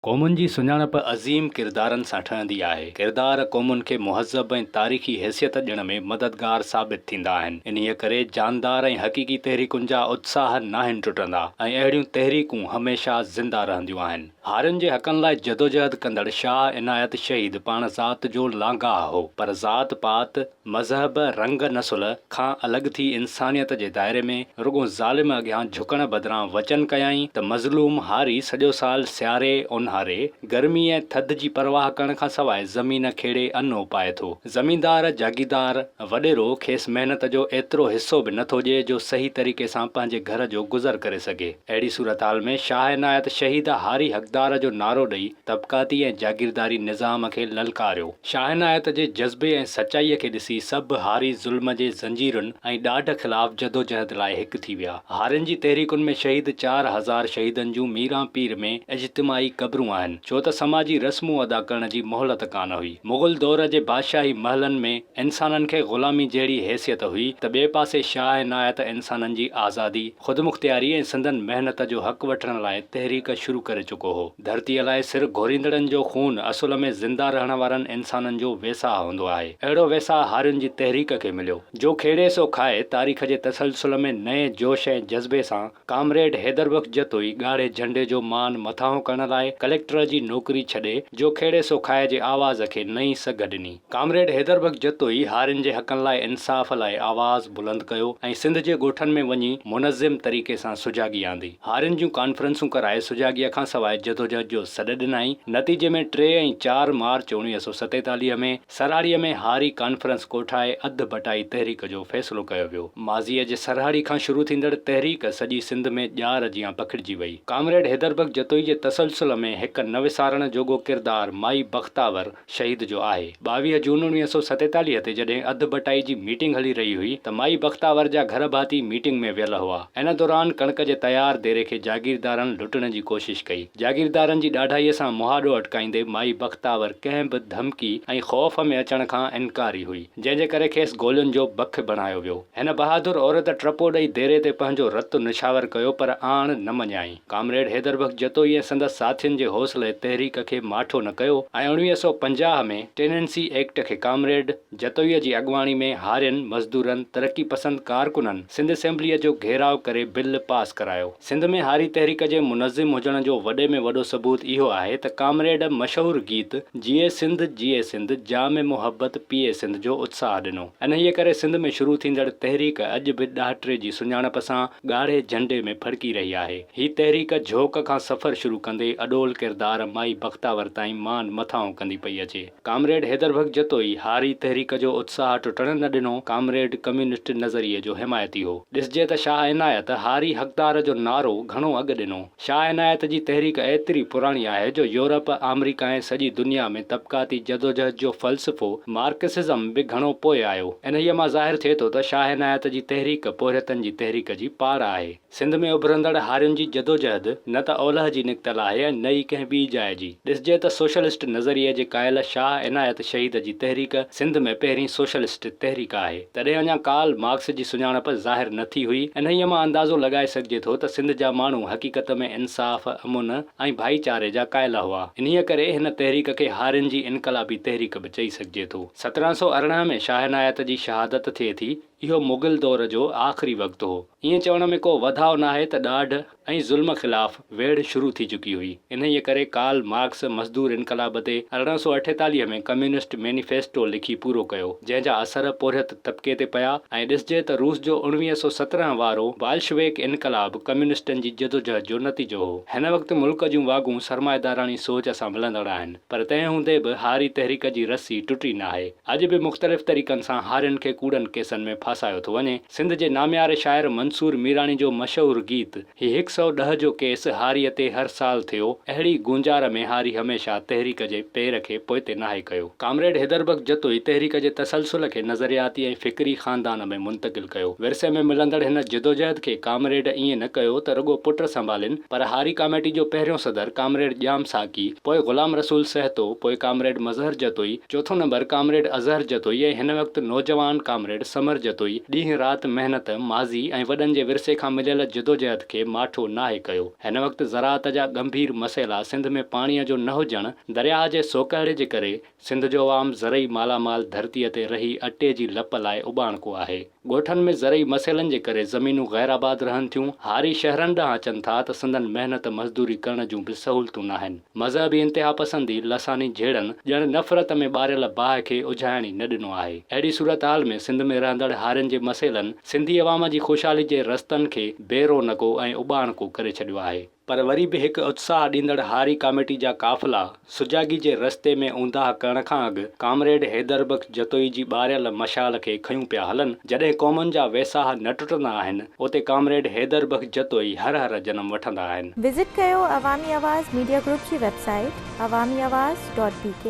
قومن جي سڃاڻپ عظيم ڪردارن سان ٺهندي آهي. ڪردار قومن کي مهذب ۽ تاريخي حيثيت ڏيڻ ۾ مددگار ثابت ٿيندا آهن. انهيء ڪري جاندار ۽ حقيقي تحريڪن جا اتساهه ناهن ٽٽندا ۽ اهڙيون تحريڪون هميشه زنده رهنديون آهن. هارين جي حقن لاء جدوجهد ڪندڙ شاهه عنايت شهيد پاڻ ذات جو لانگاهه هو، پر ذات پات، مذهب، رنگ، نسل کان الڳ ٿي انسانيت جي دائري ۾ رڳو ظالم اڳيان جهڪڻ بدران وچن ڪيائين ته مظلوم هاري سڄو سال سياري، اونهاري، گرمي ۽ ٿڌ جي پرواهه ڪرڻ کان سواء زمين کيڙي ان اوپائي ٿو. زميندار، جاگيردار، وڏيرو کيس محنت جو ايترو حصو به نه ٿو ڏئي جو صحيح طريقي سان پنهنجي گهر جو گذر ڪري سگهي. اهڙي صورتحال ۾ شاهه عنايت شهيد هاري حقدار جو نعرو ڏئي طبقاتي ۽ جاگيرداري نظام کي للڪاريو. شاهعنايت جي جذبي ۽ سچائيء کي ڏسي سڀ هاري ظلم جي زنجيرن ۽ ڏاڍ خلاف جدوجهد لاء هڪ ٿي ويا. هارين جي تحريڪن ۾ شهيد چار هزار شهيدن جون ميران پير ۾ اجتماعي قبرون آهن، ڇو ته سماجي رسمون ادا ڪرڻ جي مهلت ڪانه هئي. مغل دور جي بادشاهي محلن ۾ انسانن کي غلامي جهڙي حيثيت هئي ته ٻئي پاسي شاهعنايت انسانن جي آزادي، خودمختياري ۽ سندن محنت جو حق وٺڻ لاء تحريڪ شروع ڪري چڪو هو. ڌرتيء لاء سر گهوريندڙن جو خون اصل ۾ زنده رهڻ وارن انسانن جو ويساهه هوندو آهي. اهڙو ويساهه هارين جي تحريڪ کي مليو. جو کيڙي سو کائي تاريخ جي تسلسل ۾ نئين جوش ۽ جذبي سان ڪامريڊ حيدر بخش جتوئي ڳاڙهي جهنڊي جو مان مٿانهون ڪرڻ لاء ڪليڪٽر جي نوڪري ڇڏي جو کيڙي سو کائي جي آواز کي نئين سگهه ڏني. ڪامريڊ حيدر بخش جتوئي هارين جي حقن لاء انصاف لاء آواز بلند ڪيو ۽ سنڌ جي ڳوٺن ۾ وڃي منظم طريقي سان سجاڳي آندي. هارين جون ڪانفرنسون ڪرائي سجاڳيء کان سواء جدوجهد جو سڏ ڏنائين. نتيجي ۾ ٽي ۽ چار مارچ اڻويهه سؤ ستيتاليهه ۾ سرهاڙيء ۾ هاري ڪانفرنس ڪوٺائي اڌ بٽائي تحريڪ جو فيصلو ڪيو ويو. ماضيء جي سرهاڙي کان شروع ٿيندڙ تحريڪ سڄي سنڌ ۾ ڄار جيان پکڙجي وئي. ڪامريڊ حيدر بخش جتوئي جي تسلسل ۾ هڪ نه وسارڻ جوڳو ڪردار مائي بختاور، شهيد جو آهي. ٻاويهه جون اڻويهه سؤ ستيتاليهه تي جڏهن اڌ ڀٽائي جي ميٽنگ هلي رهي هئي ته مائي بختاور جا گهر ڀاتي ميٽنگ ۾ ويل هئا. ان دوران ڪڻڪ جي تيار ديري کي جاگيردارن لٽڻ جي ڪوشش ڪئي. جاگيردارن جي ڏاڍائيء سان مهاڏو اٽڪائيندي مائي بختاور ڪنهن به ڌمڪي ۽ خوف ۾ اچڻ کان انڪاري هئي، جنهن جي ڪري کيس گولين جو بک بڻايو ويو. هن بهادر عورت ٽپو ڏئي ديري تي پنهنجو رت نڇاور ڪيو پر آڻ نه مڃيائين. ڪامريڊ حيدر بخش جتوئي ۽ سندس ساٿين جي حوصلي تحريڪ کي ماٺو نه ڪيو ۽ اوڻويهه سؤ پنجاهه ۾ ٽيننسي ايڪٽ کي ڪامريڊ جتوئي جي اڳواڻي ۾ هارين، مزدورن، ترقي پسند ڪارڪنن سنڌ اسيمبليء جو گهيراء ڪري بل پاس ڪرايو. سنڌ ۾ هاري تحريڪ جي منظم هجڻ جو وڏي ۾ وڏو ثبوت اهو آهي ته ڪامريڊ مشهور گيت جيئي سنڌ جيئي سنڌ جام محبت پيئي سنڌ جو اتساهه ڏنو. انهيء ڪري سنڌ ۾ شروع ٿيندڙ تحريڪ اڄ به ڏاهٽري جي سڃاڻپ سان ڳاڙهي جهنڊي ۾ ڦڙڪي رهي آهي. هي تحريڪ جهوڪ کان سفر شروع ڪندي اڏول ڪردار مائي بختاور تائين مان مٿانهون ڪندي پئي اچي. ڪامريڊ حيدر بگ جتوئي هاري تحريڪ جو اتساهه ٽٽڻ نه ڏنو، ڪامريڊ ڪميونسٽ نظريي جو حمايتي هو. ڏسجي ته شاهه عنايت هاري حقدار جو نعرو گهڻو اڳ ڏنو. شاهه عنايت جي تحريڪ ايتري پراڻي آهي جو يورپ، آمريڪا ۽ سڄي دنيا ۾ طبقاتي جدوجهد جو فلسفو، مارڪسزم، به گهڻو پوء آيو. انهيء مان ظاهر ٿئي ٿو ته شاهه عنايت جي تحريڪ پورهيتن جي تحريڪ جي پاڙ آهي. سنڌ ۾ اڀرندڙ هارين جي جدوجهد نه ته اولهه جي نڪتل آهي ۽ نه ئي ڪنهن ٻي جاء جي. ڏسجي ته سوشلسٽ نظريي جي قائل شاهه عنايت شهيد جي تحريڪ سنڌ ۾ پهرين سوشلسٽ تحريڪ آهي. تڏهن اڃا ڪارل مارڪس جي سڃاڻپ ظاهر نه ٿي هئي. انهيء مان اندازو لڳائي سگهجي ٿو ته سنڌ جا ماڻهو حقيقت ۾ انصاف، امن ۽ ڀائيچاري جا قائل هئا. انهيء ڪري هن تحريڪ کي هارين جي انقلابي تحريڪ به چئي سگهجي ٿو. سترهن سؤ ارڙهن ۾ شاهه عنايت جي شهادت ٿئي ٿي. اهو مغل دور جو آخري وقت هو. ائين چوڻ ۾ ڪو وڌاء ناهي ته ڏاڍ، ۽ ظلم خلاف ويڙهه شروع ٿي چڪي هئي. انهيء ڪري ڪارل مارڪس مزدور انقلاب تي ارڙهن سؤ اٺيتاليهه ۾ ڪميونسٽ مينيفيسٽو لکي پورو ڪيو، جنهن جا اثر پورهيت طبقي تي پيا ۽ ڏسجي ته روس جو اوڻويهه سؤ سترهن وارو بالشويڪ انقلاب ڪميونسٽن جي جدوجهد جو نتيجو هو. هن وقت ملڪ جون واڳون سرمائيداراڻي سوچ سان ملندڙ آهن. پر تنهن هوندي به هاري تحريڪ جي رسي ٽٽي ناهي. اڄ به مختلف طريقن سان هارين کي ڪوڙن ڪيسن ۾ ڦاسايو ٿو وڃي. سنڌ جي نامياري شاعر منصور ميراڻي جو مشهور گيت هي هڪ سئو ڏهه جو ڪيس هاريء تي هر سال ٿيو، اهڙي گونجار ۾ هاري هميشه تحريڪ جي پير کي پوئتي ناهي ڪيو. ڪامريڊ حيدر بخش جتوئي تحريڪ جي تسلسل کي نظرياتي ۽ فڪري خاندان ۾ منتقل ڪيو. ڪيو. ورثي ۾ ملندڙ هن جدوجهد کي ڪامريڊ ائين نه ڪيو ته رڳو پٽ سنڀالين پر هاري ڪاميٽي جو پهريون صدر ڪامريڊ ڄام ساقي، پوء غلام رسول سهتو، پوء ڪامريڊ مظهر جتوئي، چوٿون نمبر ڪامريڊ اظهر جتوئي ۽ هن وقت نوجوان ڪامريڊ ثمر جتوئي ڏينهن رات محنت، ماضي ۽ وڏن جي ورثي کان مليل جدوجهد کي ماٺو ناهي ڪيو. هن وقت زراعت جا ڳنڀير مسئلا سنڌ ۾ پاڻيء جو نه هجڻ، درياهه جي سوڪهڙي جي ڪري، سنڌ جو عوام زرعي مالا مال ڌرتيء تي رهي اٽي جي لپ لاء اٻاڻڪو آهي. ڳوٺن ۾ زرعي مسئلن جي ڪري زمينون غير آباد رهن ٿيون، هاري شهرن ڏانهن اچن ٿا ته سندن محنت مزدوري ڪرڻ جون به سهولتون ناهن. مذهبي انتهاپسندي لساني جهيڙن ڄڻ نفرت ۾ ٻاريل باهه کي اجهائڻ ئي نه ڏنو آهي. اهڙي صورتحال ۾ سنڌ ۾ رهندڙ هارين جي مسئلن سنڌي عوام جي خوشحالي جي رستن کي بي رونقو ۽ اٻاڻڪو ڪري ڇڏيو آهي. پر وري به هڪ اتساهه ڏيندڙ هاري ڪاميٽي جا قافلا سجاڳي جي رستي ۾ اونداهه ڪرڻ کان اڳ ڪامريڊ حيدر بخش جتوئي جي ٻاريل مشال کي کنيون پيا هلن. جڏهن قومن جا ويساهه نه ٽٽندا آهن، اتي ڪامريڊ حيدر بخش جتوئي هر هر جنم وٺندا آهن. وزٽ ڪيو عوامي آواز ميڊيا گروپ جي website Awami Awaz dot بي ڪي.